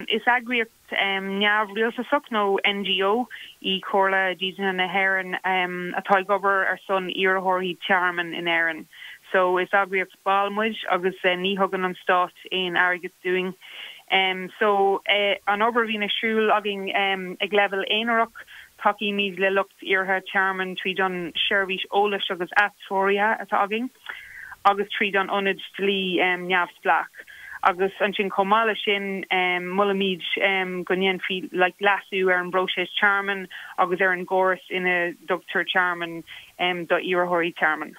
Is eagraíocht neamhrialtasach nó NGO í Comhairle Dídeanaithe na hÉireann atá ag obair ar son iarrthóirí tearmainn in Éirinn. So, is eagraíocht ball muid agus ní thugann an Stát aon airgead dúinn. So, an obair a bhíonn ar siúl againn ag leibhéal aonarach, tacaímid le lucht iarrtha tearmainn tríd an seirbhís eolais agus atreoraithe atá againn agus tríd an ionad dlí neamhspleách. Agus ansin chomh maith leis sin molaimid go ndéanfaí like leasú ar an bpróiseas tearmainn agus ar an gcóras ina dtugtar tearmann do iarrthóirí tearmainn.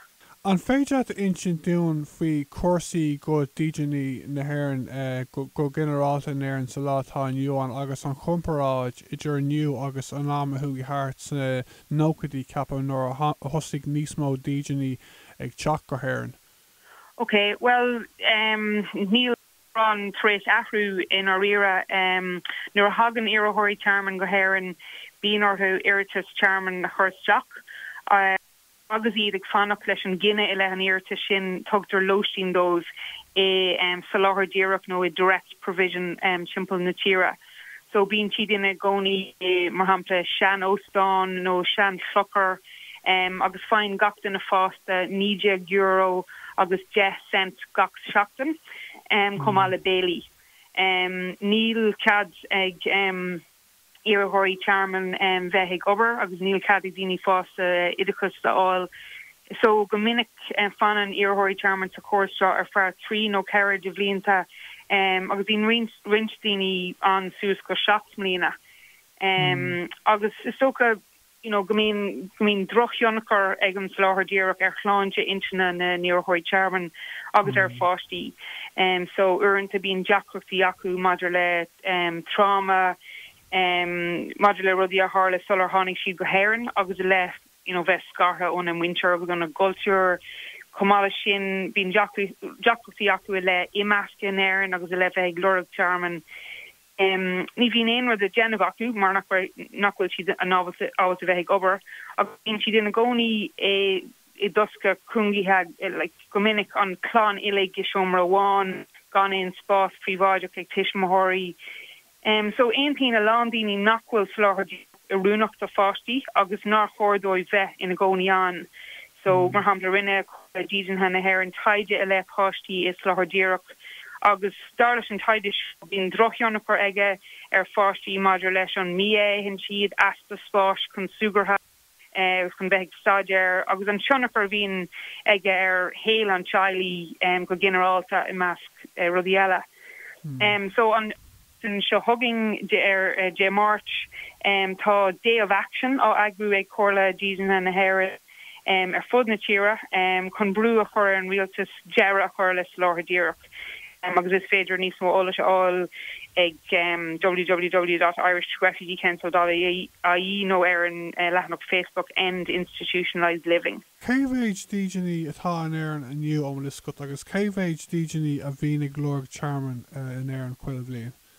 An féidir leat a insint dúinn faoi chúrsaí do dhídeanaithe na hÉireann go ginearálta in Éirinn sa lá atá inniu ann agus an chomparáid idir inniu agus an am a chuaigh thart sna nóchaidí ceapaim nuair a thosaigh níos mó dídeanaithe ag teacht go hÉirinn? OK, bhuel em, níl mórán tar éis athrú i ndáiríre. Em, nuair a thagann iarrthóirí tearmainn go hÉirinn, bíonn orthu iarratas tearmainn a chur isteach. Em, agus iad ag fanacht leis an gcinneadh i leith an iarratais sin, tugtar lóistín dóibh i, em, Soláthar Díreach nó i Direct Provision em, timpeall na tíre. So bíonn siad ina gcónaí i, mar shampla, sean-óstán nó sean-chlochar agus faigheann gach duine fásta €19 agus 10 cent gach seachtain, chomh maith le béilí. Níl cead ag iarrthóirí tearmainn bheith ag obair agus níl cead ag daoine fásta oideachas a fháil So, go minic fanann iarrthóirí tearmainn sa chóras seo ar feadh trí nó ceithre de bhlianta agus bíonn roinnt daoine ann suas go seacht mbliana agus is dócha go mbíonn drochthionchar ag an Soláthar Díreach ar shláinte intinne na n-iarrthóirí tearmainn agus ar a bpáistí, so uaireanta bíonn deacrachtaí acu maidir le tráma, maidir le rudaí a tharla sular tháinig siad go hÉirinn agus i leith. you know bheith scartha óna muintir agus óna gcultúr. Chomh maith leis sin, bíonn deacrachtaí acu i leith imeasctha in Éirinn agus i leith bheith ag lorg tearmainn. Ní bhíonn aon rud le déanamh acu mar nach bhfuil siad ábalta bheith ag obair agus bíonn siad ina gcónaí i dtosca cúngaithe like, go minic an chlann uilig i seomra amháin, gan aon spás príobháideach ag tuismitheoirí. Em, so aontaíonn a lán daoine nach bhfuil soláthar díreach oiriúnach do pháistí agus nár chóir dóibh bheith ina gcónaí ann. So, mar shampla, rinne Comhairle Dídeanaithe na hÉireann taighde i leith páistí i soláthar díreach agus dar leis an taighde seo bíonn drochthionchar aige ar pháistí maidir leis an mbia a itheann siad, easpa spáis chun súgartha, chun bheith ag staidéar agus an tionchar a bhíonn aige ar shaol an teaghlaigh go ginearálta, i measc rudaí eile. So an tseachtain seo chugainn ar Dé Máirt, tá Day of Action á eagrú ag Comhairle Dídeanaithe na hÉireann ar fud na tíre chun brú a chur ar an rialtas deireadh a chur le Soláthar Díreach. agus is féidir níos mó eolais a fháil ag www.irishrefugeecouncil.ie nó ar an leathanach Facebook End Institutionalised Living. Cé mhéid dídeanaí atá in Éirinn inniu más eol duit agus cé mhéid dídeanaí a bhíonn ag lorg tearmainn in Éirinn chuile bhliain?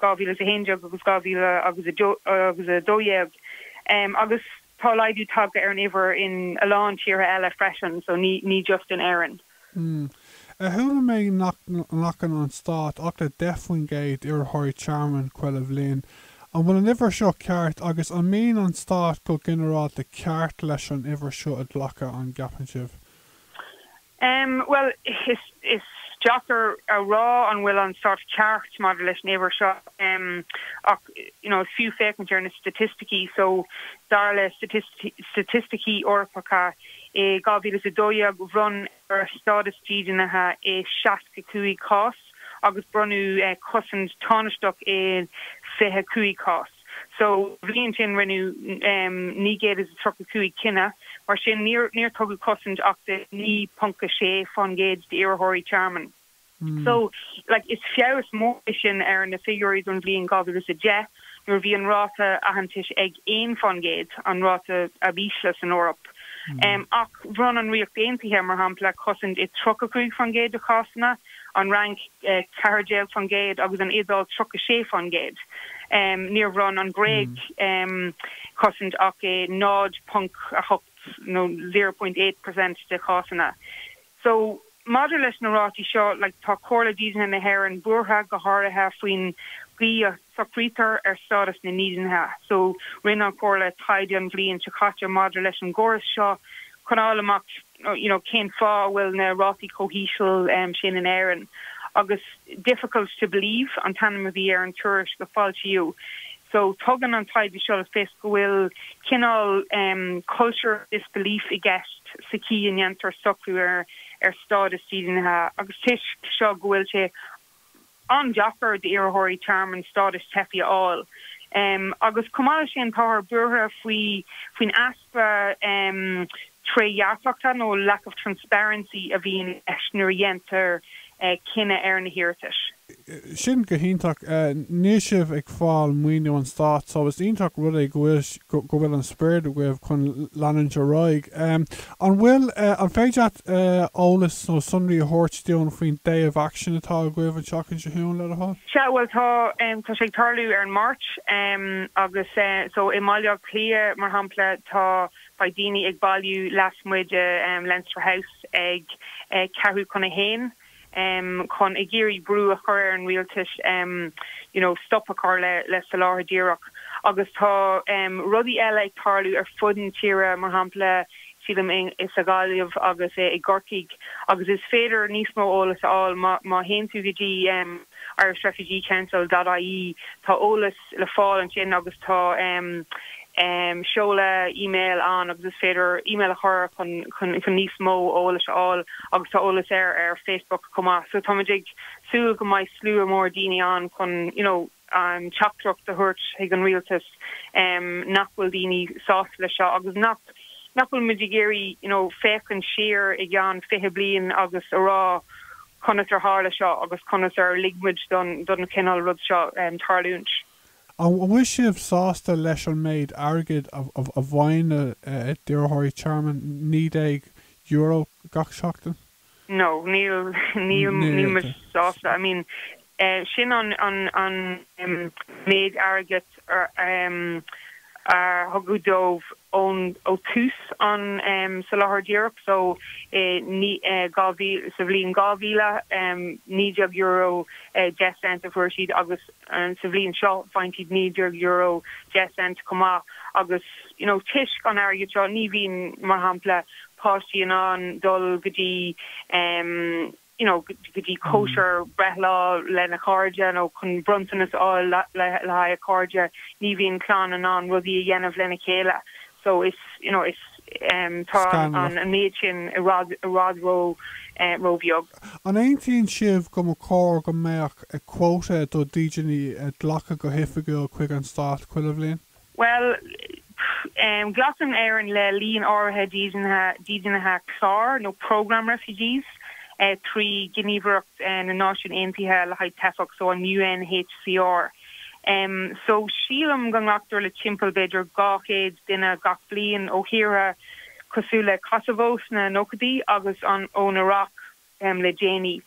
2011 agus 2012 agus tá laghdú tagtha ar an uimhir in a lán tíortha eile freisin, so ní just in Éirinn. Mmm. Chuala mé nach nglacann an Stát ach le 10 faoin gcéad d'iarrthóirí tearmainn chuile bhliain. An bhfuil an uimhir seo ceart agus an mbíonn an Stát go ginearálta ceart leis an uimhir seo a ghlacadh, an gceapann sibh? Bhuel, is deacair a rá an bhfuil an Stát ceart maidir leis an uimhir seo ach you know is fiú féachaint ar na staitisticí so, dar le staitisticí Eorpacha, i 2012 bhronn Éire stádas dídeanaithe i 65 cás agus bronnadh cosaint thánaisteach i 25 cás. Sa bhliain sin rinneadh 935 cinneadh, mar sin níor tugadh cosaint ach do 9.6% d'iarrthóirí tearmainn. So like is feabhas mór é sin ar na figiúirí don bhliain 2010 nuair a bhí an ráta aitheantais ag 1%, an ráta ab ísle san Eoraip. Ach bhronn an Ríocht Aontaithe, mar shampla, cosaint i 35% de chásanna. an Fhrainc 14% agus an Iodáil 36%. Níor bhronn an Ghréig cosaint ach i 0.8 nó 0.8 per cent de chásanna. So, maidir leis na rátaí seo, like, tá Comhairle Dídeanaithe na hÉireann buartha, go háirithe faoin gcaoi a socraítear stádas na ndídeanaithe. So, rinne an Chomhairle taighde an bhliain seo caite maidir leis an gcóras seo chun a fháil amach, you know cén fáth a bhfuil na rátaí chomh híseal sin in Éirinn agus difficult to believe an t-ainm a bhí ar an tuairisc a foilsíodh so tugann an taighde seo le fios go bhfuil cineál culture of disbelief i gceist sa chaoi a ndéantar socrú ar stádas dídeanaithe agus toisc seo go bhfuil sé an-deacair d'iarrthóirí tearmainn stádas teifeach a fháil agus chomh maith leis sin táthar buartha faoi faoin easpa trédhearcachta nó lack of transparency a bhíonn i gceist nuair a dhéantar cinneadh ar na hiarratais. Sin go hiontach. Níl sibh ag fáil maoiniú an stáit so is iontach rud é go bhfuil an sprid agaibh chun leanúint ar aghaidh. An bhfuil, an féidir leat eolas nó sonraí a thabhairt dúinn faoin day of action atá agaibh an tseachtain seo chugainn, le do thoil? Sea, bhuel tá, tá sé ag tarlú ar an Mháirt agus so i mBaile Átha Cliath, mar shampla, tá, beidh daoine ag bailiú lasmuigh de Leinster House ag ceathrú chun a haon. chun ag iarraidh brú a chur ar an rialtas you know stop a chur le le soláthar díreach agus tá rudaí eile ag tarlú ar fud na tíre mar shampla sílim i sa Ghaillimh agus i gCorcaigh agus is féidir níos mó eolas a fháil má má théann tú go dtí Irish Refugee Council dot ie tá eolas le fáil ansin agus tá seoladh email ann agus is féidir email a chur chun níos mó eolas a fháil agus tá eolas air ar Facebook chomh maith so táimid ag súil go mbeidh slua mór daoine ann chun you know teachtaireacht a thabhairt chuig an rialtas nach bhfuil daoine sásta leis seo agus nach nach bhfuil muid ag iarraidh you know féachaint siar i gceann fiche bliain agus a rá conas ar tharla seo agus conas ar lig muid don chineál rud seo tarlúint. An bhfuil sibh sásta leis an méid airgid a bhfaigheann iarrthóirí tearmainn, €19 gach seachtain? No, níl, níl, níl muid sásta, I mean, Sin an méid airgid a tugadh dóibh ó thús an tsoláthair díreach, so sa bhliain 2000, €19 deich cent a fuair siad agus sa bhliain seo faigheann siad €19 deich cent chomh maith agus toisc an airgid seo ní bhíonn, mar shampla, páistí in ann dul go dtí you know go dtí cóisir breithlá lena chairde nó chun bronntanas a fháil le haghaidh a cairde, ní bhíonn clann in ann rudaí a dhéanamh lena chéile so is you know is em tá an méid sin i bhfad i bhfad ró eh róbheag. An aontaíonn sibh go mba chóir go mbeadh quota de dídeanaithe á glacadh go hoifigiúil chuig an stát chuile bhliain? Bhuel, pff, glacann Éirinn le líon áirithe dídeanaithe cláir nó programme refugees trí Ghníomhaireacht na Náisiún Aontaithe le haghaidh Teifeach, so an UNHCR. So, sílim go nglactar le timpeall b'fhéidir 200 duine gach bliain ó thíortha cosúil le Kosovo sna nóchaidí agus an, ón Iraq. em. le déanaí.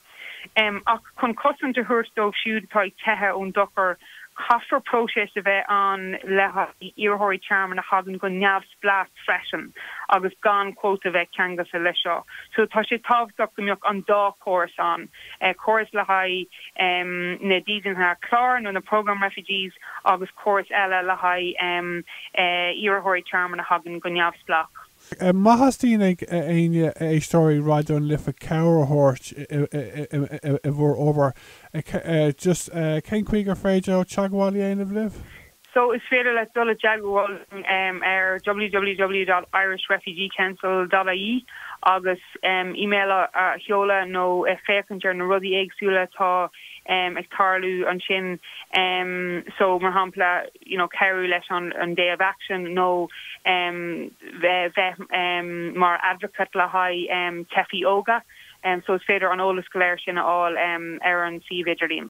Em. ach chun cosaint a thabhairt dóibh siúd atá ag teitheadh ón dochar, caithfear próiseas a bheith ann le haghaidh iarrthóirí tearmainn a thagann go neamhspleách freisin agus gan cuóta a bheith ceangailte leis seo. So tá sé tábhachtach go mbeadh an dá chóras ann, eh. córas le haghaidh, em. na dídeanaithe cláir nó na programme refugees agus córas eile le haghaidh, em. eh. iarrthóirí tearmainn a thagann go neamhspleách. Má theastaíonn ó éinne d'éisteoirí Raidió na Life, cabhair a thabhairt i bhur obair, just cén chaoi gur féidir leo teagmháil a dhéanamh libh? So is féidir leat dul i dteagmháil linn ar www.irishrefugeecouncil.ie agus email a sheoladh nó féachaint ar na rudaí éagsúla atá ag tarlú ansin, so mar shampla, you know cabhrú leis an an day of action nó em bheith bheith em mar advocate le haghaidh em teifigh óga em so is féidir an eolas go léir sin a fháil em ar an suíomh idirlíon.